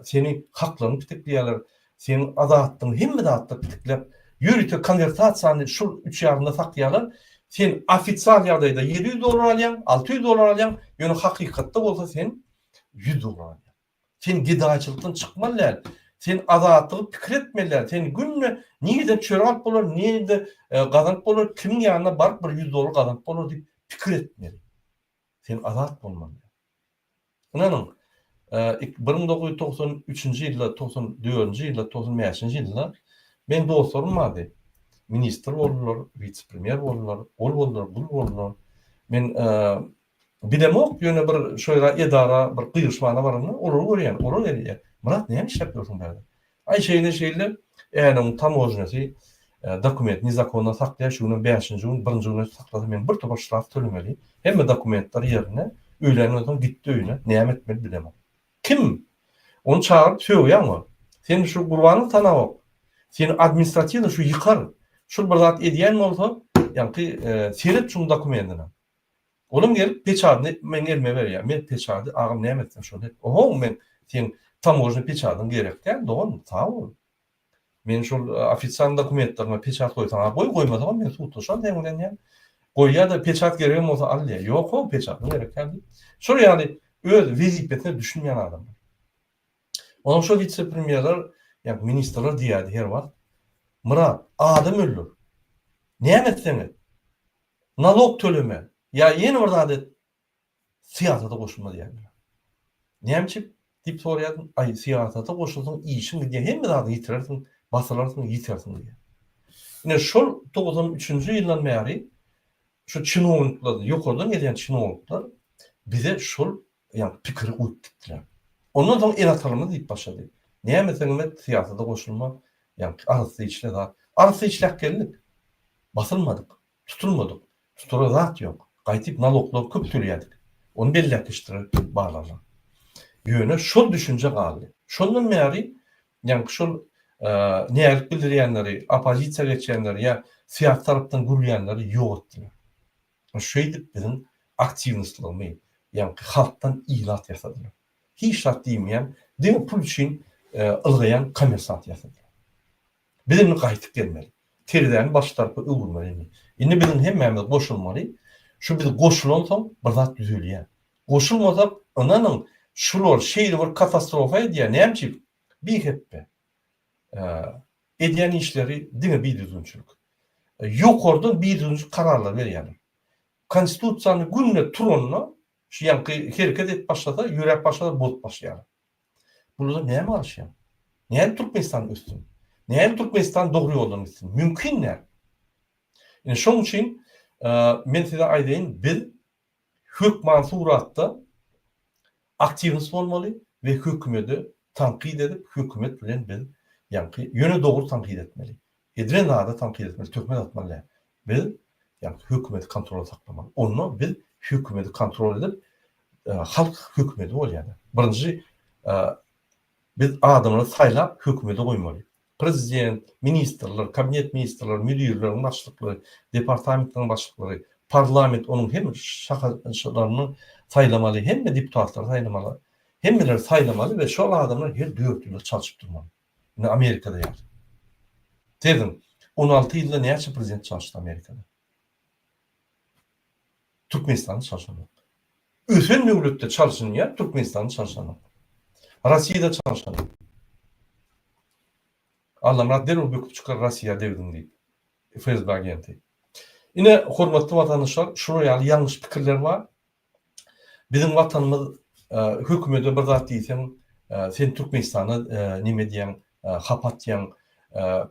seni haklaryňy pitikleýärler, seň azatlygyňy, hemme zatda pitikläp, ýörite konwertasiýany şol üç ýarymda sakýarlar. Sen ofisial ýagdaýda ýedi ýüz dollar alýaň, alty ýüz dollar alýaň, ýöne hakykatda bolsa sen ýüz dollar alýaň. Sen gedaýçylykdan çykmaly däl. Sen azatlygy pikir etmeli däl. Sen günde nireden çörek alyp bolar, nirede gazanyp bolar, kimiň ýanyna baryp bir ýüz dollar gazanyp bolar diýip pikir etmeli. Sen azat bolmaly däl. Ynanyň, bir müň dokuz ýüz togsan üçünji ýylda, togsan dördünji ýylda, togsan bäşinji ýylda meniň dostlarym bardy. Ministr boldular, wise-premýer boldular, ol boldular, bul boldular. Men Bilemok, ýöne bir şo ýere edara bir gygyryşmana baranda, olary görýän, olar gelýär. Myrat, näme işläp ýörsiň bärde? Aý, şeýle-şeýle, änewiň tamojnýasy dokument nezakondan saklaýar, şu günem bäşinji gün, birinji gün öýt saklasa, men bir topar ştraf tölemeli. Hemme dokumentler ýerinde. Öýländen soň gitdi öýüne. Näme etmeli bilemok. Kim? Ony çagyryp sögýäň ol. Sen şu Gurbanowy tanawok. Seni administratiwnyý şu ýykar. Şul bir zat edýän bolsa, ýaňky seret şuň dokumentine. Onuň gelip peçadyny meň elime berýär. Men peçady agam näme etseň şony et. Ohoň men seň tamožnyý peçadyň gerek däl dogan sag bol. Men şol ofisial dokumentleriňe peçat goýsaň a goý goýmasagam men sudlaşan seň bilen diýýän. Goýýada peçat geregem bolsa al diýýär. Ýok ho peçadyň gerek däl diýip. Şol ýaly öz wezipesine düşünmeýän adamlar. Onuň şo wise premýerler ýa ministrler diýýärdi her wagt. Myrat adam öldür. Näme etseň et. nalog tölemän ýa ýene bir zat edip syýasata goşulma diýýän bilen. Näme üçin? diýip soraýaryn, aý syýasata goşulsaň işiň gidýär, hemme zadyňy ýitirersiň, basylarsyň, ýitirersiň diýýär. Ine şol togsan üçünji ýyldan bäri şu çinownikler, ýokardan gelýän çinownikler bize şol Ýa-da pikiri goýup gitdiler. Ondan soň el atarymyz diýip başlady. Näme etseňem et, syýasata goşulma, ýaňky arassa işle zat. Arassa işläp geldik. Basylmadyk, tutulmadyk. Tutara zat ýok. Gaýtyp naloglary köp tölýädik. Ony belläp geçdiler barlaglar. Ýöne şol düşünje galdy. Şondan bäri ýaňky şol näzik bildirýänleri, oppozisiýa geçýänleri ýa syýasy tarapdan gürleýänleri ýok etdiler. Şeýdip biziň aktiwnostlarymy, ýaňky halkdan ilat ýasadylar. Hiç zat diýmeýän, diňe pul üçin ylgaýan kommersant ýasadylar. Biz indi gaýtyp gelmeli. Terezäni baş tarapa öwürmeli indi. Indi biziň hemmämiz goşulmaly. Şu biz goşulansoň bir zat düzelýär. Goşulmasak, ynanyň, şular şeýle bir katastrofa edýär, näme üçin? Bihepbe. Edýän işleri diňe bidüzgünçilik. Ýokardan bidüzgünçilik kararlary berýärler. Konstitusiýany günde turanda şu ýaňky hereket edip başlasa, ýöräp başlasa bozup başlaýarlar. Bulardan näme galyşýar? Nädip Türkmenistan össün? Nädip Türkmenistan dogry ýoldan gitsin? Mümkin däl. Ine şonuň üçin men size aýdaýyn, biz Hökman suratda aktiwnyst bolmaly we hökümedi tankyt edip hökümet bilen biz ýaňky ýöne dogry tankyt etmeli. Edilen zada tankyt etmeli töhmet atmaly däl. Biz ýaňky hökümedi kontrolda saklamaly. Onda biz hökümedi kontrol edip halk hökümedi bolýada. Birinji biz adamlary saýlap hökümedi goýmaly. Prezident, ministrler, kabinet ministrler, müdirleriň başlyklary, departamentleriň başlyklary, parlament onuň hem şahasylaryny saýlamaly, hemme deputatlary saýlamaly, hemmeleri saýlamaly we şol adamlar her dört ýylda çalşyp durmaly. Indi Amerikada ýaly. Seziň, on alty ýylda näçe prezident çalşdy Amerikada? Türkmenistany çalşanok. Ösen döwletde çalşynýar, Türkmenistany çalşanok. Rossiýada çalşanok. Allamyrat derrew böküp çykar Rossiýa degdiň diýip, FSB agenti. Ine, hormatly watandaşlar, şular ýaly ýalňyş pikirler bar. Biziň watanymyz hökümede bir zat diýseň, sen Türkmenistana neme diýýäň, hap atýaň.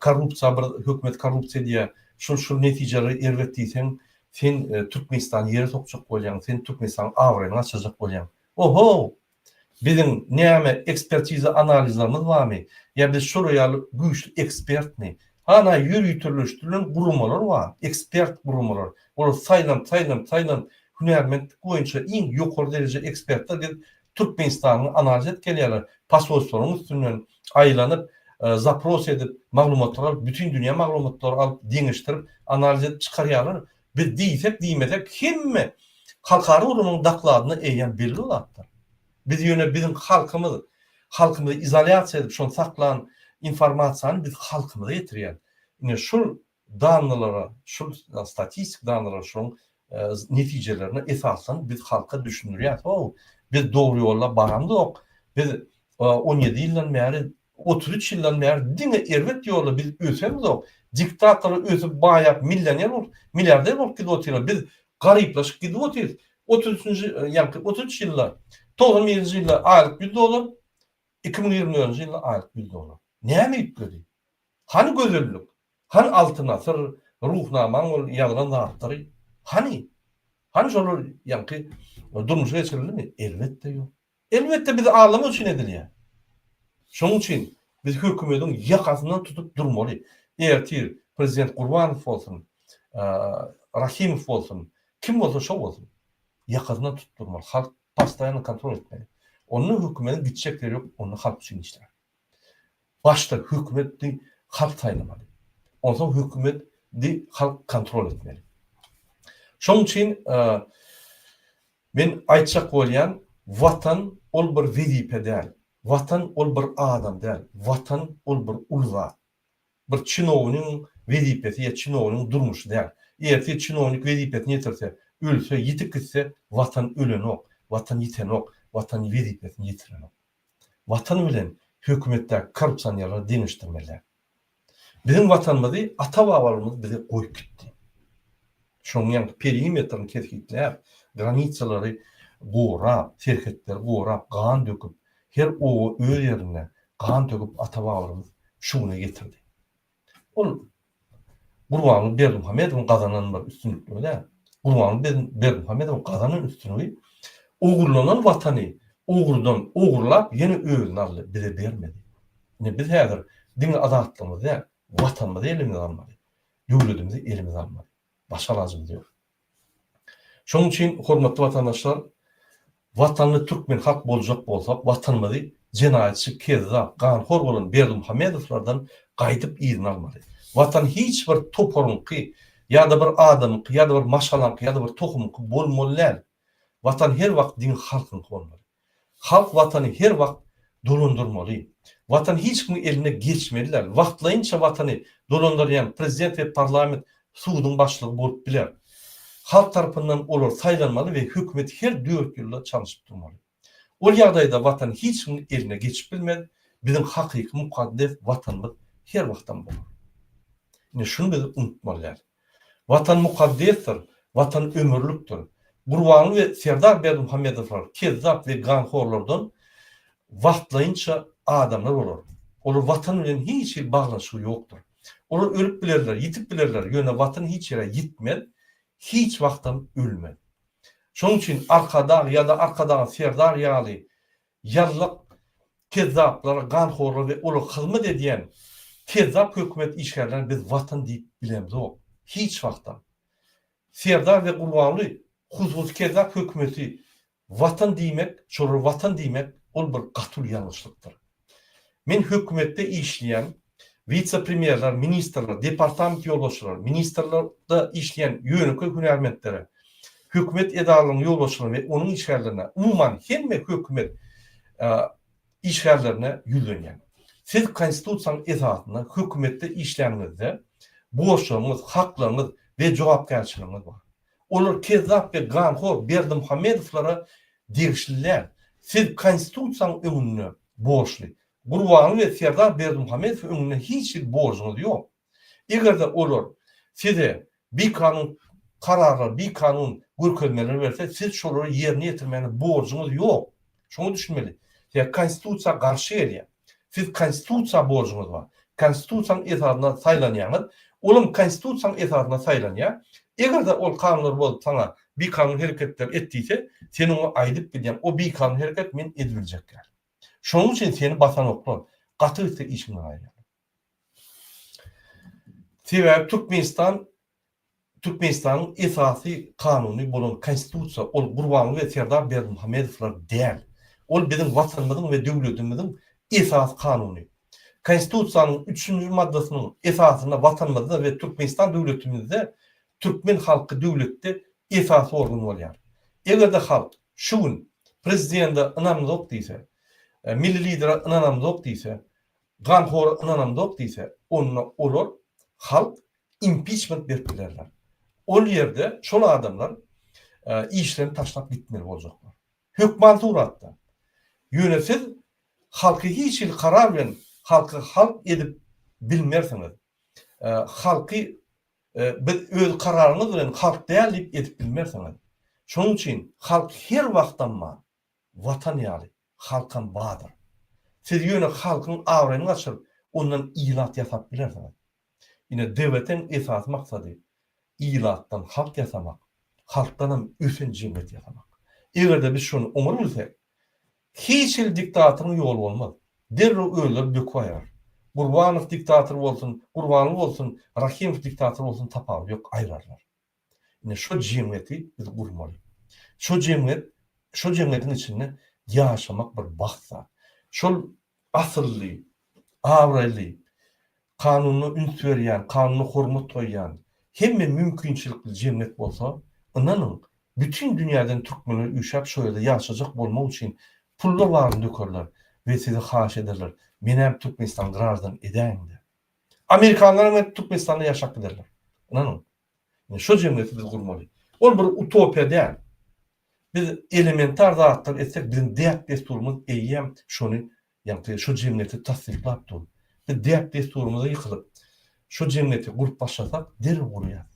Korrupsiýa bir hökümet korrupsiýa diýýä. Şul şul netijelere erbet diýseň sen Türkmenistany ýere sokjak bolýaň, sen Türkmenistanyň abraýyny gaçyrjak bolýaň. Oho! Biziň näme ekspertiza analizlerimiz barmy? Ýa biz şolar ýaly güýçli ekspertmi? Hana ýöriteleşdirilen guramalar bar, ekspert guramalar. Olar saýlanyp, saýlanyp, saýlanyp hünärmentlik boýunça iň ýokary dereje ekspertler gelip Türkmenistanyň analjet gelýärler posolstwalaryň üstünden aýlanyp zapros edip maglumatlar alyp bütin dünýä maglumatlary alyp deňeşdirip analjet çykarýarlar biz diýsek diýmesek hemme halkara ulgamyň dakladyna eýýäm belli zatlar biz ýöne biziň halkymyz halkymyzy izolýasiýa edip şony saklan informasiýany biz halkymyza ýetirýäs ine şul Danylara, şul statistik danylara şunuň netijelerine esaslanyp biz halka düşündirýäs, how, biz dogry ýolda baramzok, biz on ýedi ýyldan bäri, otuz üç ýyldan bäri diňe erbet ýolda biz ösemzok, diktatorlar ösüp baýap millioner bolup, milliarder bolup gidip otyrlar, biz garyplaşyp gidip otyrys, otuz üçünji ýaňky otuz üç ýylda, togsan birinji ýylda aýlyk ýüz dollar, iki müň ýigrimi dördünji ýylda aýlyk ýüz dollar. Näme üýtgedi? Hany gözellik? Hany Altyn asyr, Ruhnamaň ol ýazlan zatlary? Hany? Hany şolar ýaňky durmuşa geçirilimi? Elbetde ýok. Elbetde bizi aldamak üçin edilýär. Şonuň üçin biz hökümediň ýakasyndan tutup durmaly. Ertir prezident Gurbanow bolsun, Rahimow bolsun, kim bolsa şo bolsun. Ýakasyndan tutup durmaly. Halk postoýanno kontrol etmeli. Onda hökümediň gitjek ýeri ýok, onda halk üçin işlär. Başda hökümet di halk saýlamaly. Onsoň hökümet di halk kontrol etmeli. Şoň üçin men aýtjak bolýan watan ol bir wezipe däl. Watan ol bir adam däl. Watan ol bir uly zat. Bir çinownyň wezipesi ýa çinownyň durmuşy däl. Ertir çinownik wezipesini ýetirse, ölse, ýitip gitse watan ölenok, watan ýitenok, watan wezipesini ýetirenok. Watan bilen hökümetdäki korrupsionerleri deňeşdirmeliler. Biziň Watanymyzy ata-babalarymyz bize goýup gitdi. Şonuň ýaňky perimetrini kesgitläp, granisalary gorap, serhetleri gorap, gan döküp, her oba öz ýerinde gan töküp ata-babalarymyz şu güne getirdi. Ol Gurbanguly Berdimuhamedowyň gazanan bir üstünlikligi däl. Gurbanguly Berdimuhamedowyň gazanan üstünligi ogurlanan Watany ogurdan ogurlap ýene özüne aldy, bize bermedi. Ine biz häzir diňe azatlygymyzy däl, Watanymyzy elimize almaly. Döwletimizi elimize almaly. Başga alajymyz ýok. Şonuň üçin, hormatly watandaşlar, watanly türkmen halk boljak bolsak, Watanymyzy jenaýatçy, kezzap, ganhor bolan Berdimuhamedowlardan gaýdyp yzyna almaly. Watan hiç bir toparyňky ýa-da bir adamyňky ýa-da bir maşgalaňky ýa-da bir tohumyňky bolmaly däl. Watan her wagt diňe halkyňky bolmaly. Halk watany her wagt dolandyrmaly. Watan hiç kimiň eline geçmeli däl. Wagtlaýynça watany dolandyrýan prezident we parlament suduň başlygy bolup biler. Halk tarapyndan olar saýlanmaly we hökümet her dört ýylda çalyşyp durmaly. Ol ýagdaýda watan hiç kimiň eline geçip bilmez, biziň hakyky mukaddes watanymyz her wagtam bolar. Ine şuny biz unutmaly däl. Watan mukaddesdir, Watan ömürlikdir. Gurbanly we Serdar Berdimuhamedowlar kezzap we ganhorlardan wagtlaýynça adamlar bolar. Olar Watan bilen hiç hili baglanyşygy ýokdur. Olar ölüp bilerler, ýitip bilerler, ýöne Watan hiç ýere ýitmez, hiç wagtam ölmez. Şonuň üçin Arkadag ýa-da Arkadagyň Serdar ýaly Ýazlyk kezzaplara, ganhorlara we olara hyzmat edýän kezzap hökümet işgärlerine biz Watan diýip bilemzok. Hiç wagtam. Serdar we Gurbanguly hususy kezzap hökümeti Watan diýmek, şolara Watan diýmek ol bir gaty uly ýalňyşlykdyr. Men hökümetde işleýän, wise-premýerler, ministrler, departament ýolbaşçylary, ministrlikde işleýän ýönekeý hünärmentlere, hökümet edaralarynyň ýolbaşçylaryna we onuň işgärlerine, umuman, hemme hökümet işgärlerine ýüzlenýän. Siz Konstitusiýanyň esasynda hökümetde işlänňizde borçlaryňyz, haklaryňyz we jogapkärçiligiňiz bar. Olar kezzap we ganhor Berdimuhamedowlara degişli däl. Siz Konstitusiýanyň öňünde borçly, Gurbanguly we Serdar Berdimuhamedow öňünde hiç hili borjuňyz ýok. Eger-de olar size bikanun kararlar, bikanun görkezmeler berse, siz şolary ýerine ýetirmäne borjuňyz ýok. Şoňa düşünmeli. Size konstitusiýa garşy gelýär. Siz konstitusiýa borjuňyz bar. Konstitusiýanyň esasynda saýlanýaňyz. Olam konstitusiýanyň esasynda saýlanýar. Eger-de ol kanunlary bozup saňa bikanun hereketler et diýse, sen oňa aýdyp gidýäň, o bikanun hereket men edibiljek däl. Şonuň üçin seni basanoklar gaty gitse işiňden aýrýarlar. Sebäbi Türkmenistan Türkmenistanyň esasy kanuny bolan Konstitusiýa ol Gurbanguly we Serdar Berdimuhamedowlar däl. Ol biziň Watanymyzyň we döwletimiziň esasy kanuny. Konstitusiýanyň üçünji maddasynyň esasynda Watanymyzda we Türkmenistan döwletimizde türkmen halky döwletde esasy organ bolýar. Eger-de halk Şu gün Prezidende ynamyňzok diýse, Milli Lidere ynanamzok diýse, ganhora ynanamzok diýse, onda olar halk impiçment berip bilerler. Ol ýerde şol adamlar işlerini taşlap gitmeli boljaklar. Hökman suratda. Ýöne siz halky hiç hili karar bilen halky halk edip bilmersiňiz. Halky Biz öz kararyňyz bilen halk däl diýip ezip bilmersiňiz. Şonuň üçin halk her wagtam bar. Watan ýaly, halkam bardyr. Siz ýöne halkyň abraýyny gaçyryp, ondan ilat ýasap bilersiňiz. Ine, DBT-iň esasy maksady, ilatdan halk ýasamak, halkdanam ösen jemgyýet ýasamak. Eger-de biz şony oňar bilsek, Hiç hili diktatoryň ýoly bolmaz. Derrew özleri döküp aýrar. Gurbanow diktator bolsun, Gurbanly bolsun, Rahymow diktator bolsun tapawudy ýok, aýrarlar. Ine şo jemgyýeti biz gurmaly. Şo jemgyýet, şo jemgyýetiň içinde ýaşamak bir bagt zat. Şol asylly, abraýly, Kanuna üns berýän, kanuna hormat goýýan, hemme mümkinçilikli jemgyýet bolsa, ynanyň, bütin dünýäden türkmenler üýşäp şo ýerde ýaşajak bolmak üçin pullar baryny dökerler we sizi haýyş ederler, menäm Türkmenistany graždan edäýiň diýip. Amerikanlaram gelip Türkmenistanda ýaşap giderler. Ynanyň. Ine şo jemgyýeti biz gurmaly. Ol bir utopiýa däl. Biz elementar zatlar etsek biziň däp-dessurymyz eýýäm şony Ýagty şu jemgyýeti tassyklap dur. Biz däp-dessurymyza ýykylyp, şu jemgyýeti gurup başlasak, derrew gurýar.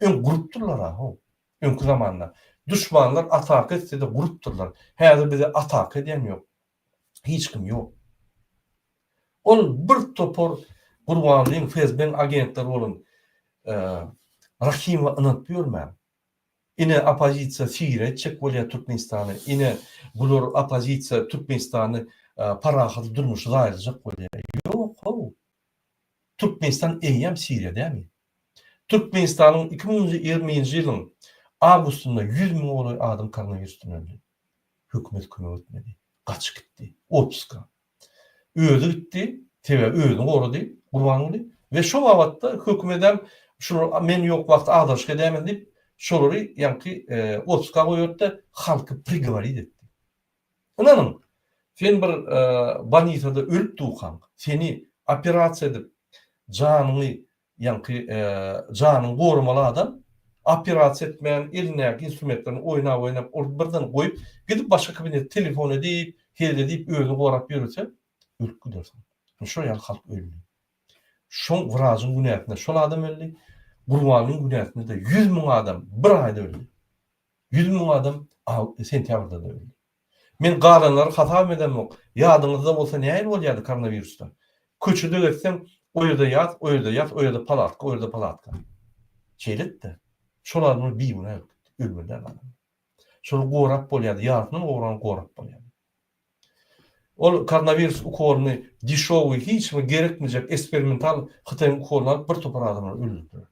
Öň gurupdyrlar-a-how. Öňki zamanda. Duşmanlar ataka etse-de gurupdyrlar. Häzir bize ataka edýän ýok. Hiç kim ýok. Ol bir topar Gurbanlyň, FSB-niň agentleri bolan Rahimowa ynanyp ýörmäň. Ine opozisiýa syra etjek bolýa Türkmenistany ine bular opozisiýa Türkmenistany parahat durmuşy zaýalyjak bolýa ýok how Türkmenistan eýýäm syra dämi Türkmenistanyň iki müň ýigrimi nji ýylyň awgustynda ýüz müňe golaý adam koronawirusdan öldi hökümet kömek etmedi gaçyp gitdi otpuska Özi gitdi, sebäbi özüni gorady Gurbanguly we şo babatda hökümedem şular men ýok wagty agdarşyk edäýmeli diýip, şolary ýaňky otpuska goýberipdi, halky prigoworit etdi. Ynanyň, sen bir bolnisada ölüp dukaň, seni operasiýa edip, janyňy Ýaňky janyňy goramaly adam operasiýa etmän, elindäki instrumentlerini oýnap-oýnap, urdy birden goýup, gidip başga kabinete telefon edip, hezil edip özüni gorap ýörese, ölüp gidersiň. Ine şo ýaly halk öldi. Şoň wrajyň günäsine şol adam öldi, Gurbanyň günäsine-de ýüz müň adam bir aýda öldi. Ýüz müň adam aw, sentýabrda-da öldi. Men galanlary hasabam edemok. Ýadyňyzda bolsa nähili bolýardy koronawirusda? Köçede gezseň, o ýerde ýat, o ýerde ýat, o ýerde palatka, o ýerde palatka. Şeýledi-de. Şol adamlar bigünä ölüp gitdi. Ölmediler galanlar. Şolar gorap bolýardy. Ýarysyndan gowrany gorap bolýardy. Ol koronawirus ukolyny deşowy, hiç kime gerekmejek esperimental Hytaýyň ukolyny alyp bir topar adamlar öldürdiler.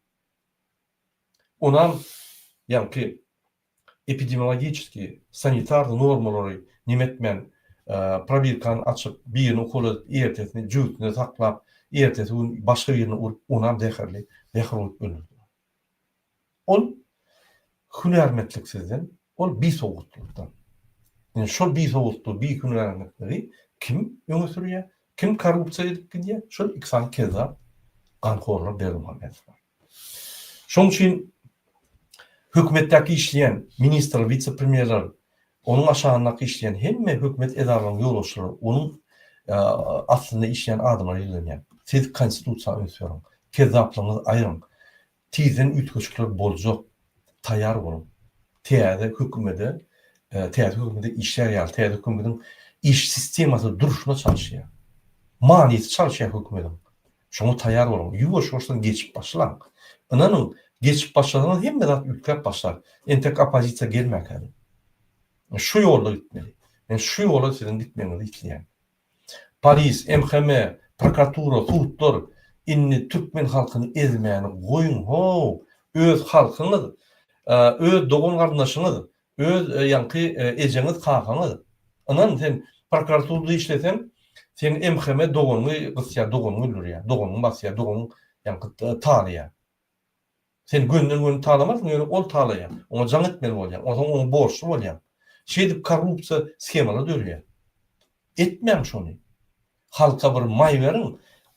Onam ýaňky Epidemiologiçeskiý, sanitarnyý normalary nimetmän, probirkany açyp, birini ukol edip, ertesini jübütinde saklap, ertesi gün başga birini urup, onam zäherli zäher bolup ölürdiler. Ol hünärmetliksizden, ol bisowgatlykdan. Indi şol bisowgatlygy, bihünärmetligi kim öňe sürýär, kim korrupsiýa edip gidýär, şol iki sany kezzap, ganhorlar Berdimuhamedowlar. Şonuň üçin hökümetdäki işleýän ministrler, wise-premýerler, onuň aşagyndaky işleýän hemme hökümet edaralarynyň ýolbaşçylary onuň astynda işleýän adamlara ýüzlenýär. Siz konstitusiýa üns beriň. Kezzaplygyňyzy aýryň. Tizden üýtgeşikler boljak. Taýýar boluň. Täze hökümede, täze hökümede işlär ýaly, täze hökümediň iş sistemasy durşuna çalyşýar. Manysy çalyşýar hökümediň. Şoňa taýýar boluň. Ýuwaş-ýuwaşdan geçip başlaň. Ynanyň, geçip başlasaňyz hemme zat üýtgäp başlar. Entek oppozisiýa gelmäkädin. Men şu ýolda gitmeli. Men şu ýola siziň gitmegiňizi isleýän. Polis, MHM, prokuratura, sudlar, indi türkmen halkyny ezmäni goýuň-how! Öz halkyňyz, öz dogan-garyndaşyňyz, Öz ýaňky ejeňiz kakaňyz. Ynan sen prokuraturda işleseň seň MHM doganyňy gysýar doganyňy öldürýär doganyňy basýar doganyň ýaňky talaýar. Sen gönden göni talamarsyň ýöne ol talaýar oňa jaň etmeli bolýaň onsoň oňa borçly bolýaň. Şeýdip korrupsiýa skemalary döreýär. Etmäň şony. Halka bir maý beriň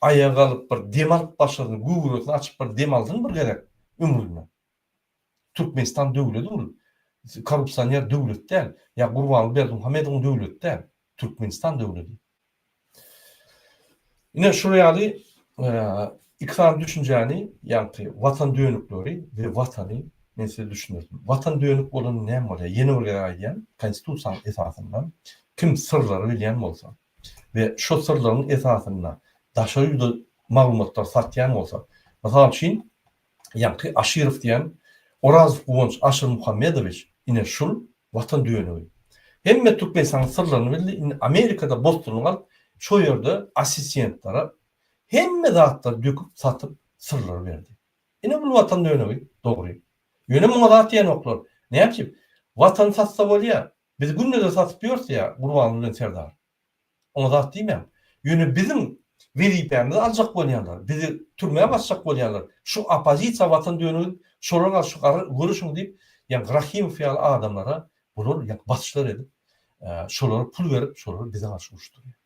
aýagalyp bir dem alyp başyny göwresini açyp bir dem alsyn bir gezek ömründe. Türkmenistan döwlet ol korrupsioner döwlet däl ýa Gurbanguly Berdimuhamedowyň döwleti däl Türkmenistan döwledi. Ine şular ýaly iki sany düşünjäni ýagty watan dönükleri we watany men size düşündirdim. Watan dönük bolanda näme bolýar? Ýene bir gezek aýdýan konstitusiýanyň esasynda kim syrlary bilýän bolsa we şo syrlaryň esasynda daşary ýurda maglumatlary satýan bolsa mysal üçin Ýaňky Aşyrow diýen Orazow Guwanç Aşyrmuhammedowiç ine şul Watan dönügi. Hemme Türkmenistanyň syrlaryny bildi, indi Amerikada bosdurlyk alyp, şo ýerde assistentlara hemme zatlary döküp, satyp, syrlary berdi. Ine bul Watan dönügi, dogry. Ýöne muňa zat diýenoklar. Nätjip? Watany satsa bolýar. Biz günde-de satyp ýörs ýa Gurbanguly bilen Serdar. Oňa zat diýmäň. Ýöne biziň wezipämizi aljak bolýanlar, bizi türmä basjak bolýanlar, şu oppozisiýa watan dönügin, şolarga şu gara görüşiň diýip, ýaňky Rahimow ýaly adamlara bular ýaňky basyşlar edip, şolara pul berip, şolary bize garşy uruşdyrýar.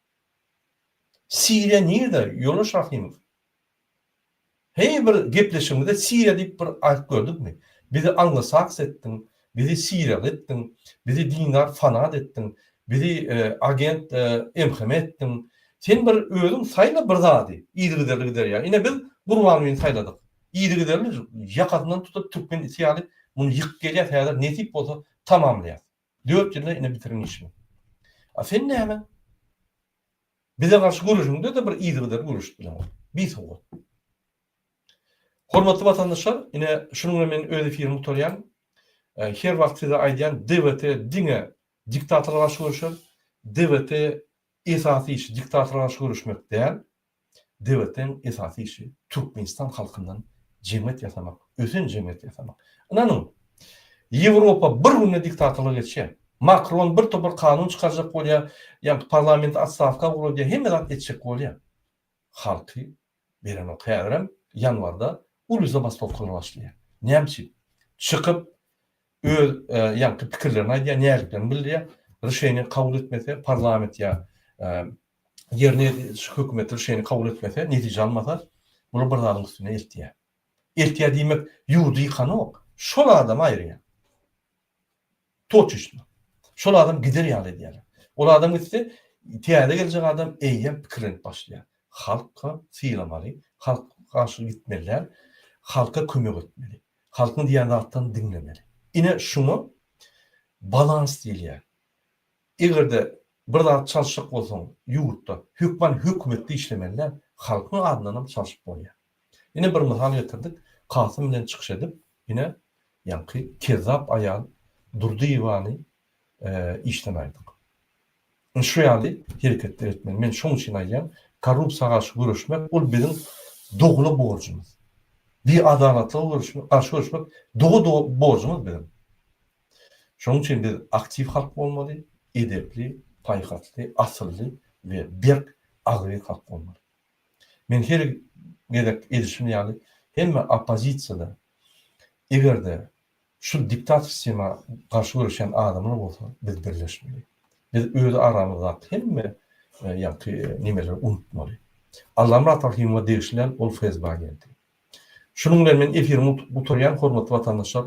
Siriýa nirde, ýoldaş Rahimow? Heý bir gepleşigimizde Siriýa diýip bir aýdyp gördükmi? Bizi anglosax etdiň, bizi siriýaly etdiň, bizi dindar fanat etdiň, bizi agent MHM etdiň. Sen bir özüň saýla bir zady, yzygiderli gider ýa. Ine biz Gurbangulyny saýladyk. Yzygiderli ýakasyndan tutup türkmen iti ýaly muny ýykyp gelýäs häzir nesip bolsa tamamlaýas. Dört ýylda ine bitirin işiňi. A sen näme? Bize garşy göreşiňde-de bir yzygider göreşip bileňok. Bisowat. Hormatly watandaşlar, ine şunuň bilen men öz efirimi gutarýan. Her wagt size aýdýan, DWT diňe diktatora garşy göreşer. DWT esasy işi diktatora garşy göreşmek däl. Dewletiň esasy işi Türkmenistan halkyndan jemgyýet ýasamak, ösen jemgyýet ýasamak. Ynanyň, Ýewropa bir günde diktatorlyga geçýär. Makron bir topar kanun çykarjak bolýar, ýa-da parlamenti otstawka ugradýar, hemme zat etjek bolýar. Halky berenok. Häzirem ýanwarda uly zabastowkalar başlaýar. Näme üçin? Çykyp öz ýaňky pikirlerini aýdýar, näziklerini bildirýär, rişeniýe kabul etmese parlament ýa ýerine ýetiriji hökümet ol şeýle kabul etmese, netije almasa, bular bir zadyň üstüne eltýär. Eltýär diýmek, ýurdy ýykanok, şol adamy aýyrýar. Toçuçny. Şol adam gider ýaly edýärler. Ol adam gitse, täze geljek adam eýýäm pikirlenip başlaýar. Halka sylamaly, halk garşy gitmeliler, halka kömek etmeli. Halkyň diýýän zatlaryny diňlemeli. Ine, şuňa balans diýilýär. Eger-de bir zat çalyşjak bolsaň ýurtda, hökman hökümetde işlemeli däl, halkyň adyndanam çalyşyp bolýar. Ine bir mysal getirdik, Kasym bilen çykyş edip, ine ýaňky kezzap aýal Durdyýewany işden aýdyň. Ine şu ýaly hereketler etmeli. Men şoň üçin aýdýan, korrupsiýa garşy göreşmek ol biziň dogula borjumyz. Biadalatlyga garşy göreşmek doga-doga borjumyz biziň. Şonuň üçin biz aktiw halk bolmaly, edepli, paýhasly, asylly we berk, agzybir halk bolmaly. Men her gezek edişim ýaly, hemme oppozisiýada, eger-de şu diktator sistema garşy göreşýän adamlar bolsa, biz birleşmeli. Biz öz aramyzdaky hemme ýaňky nemeleri unutmaly. Allamyrat Rahymowa degişli däl, ol FSB agenti. Şunuň bilen men efirimi gutarýan, hormatly watandaşlar,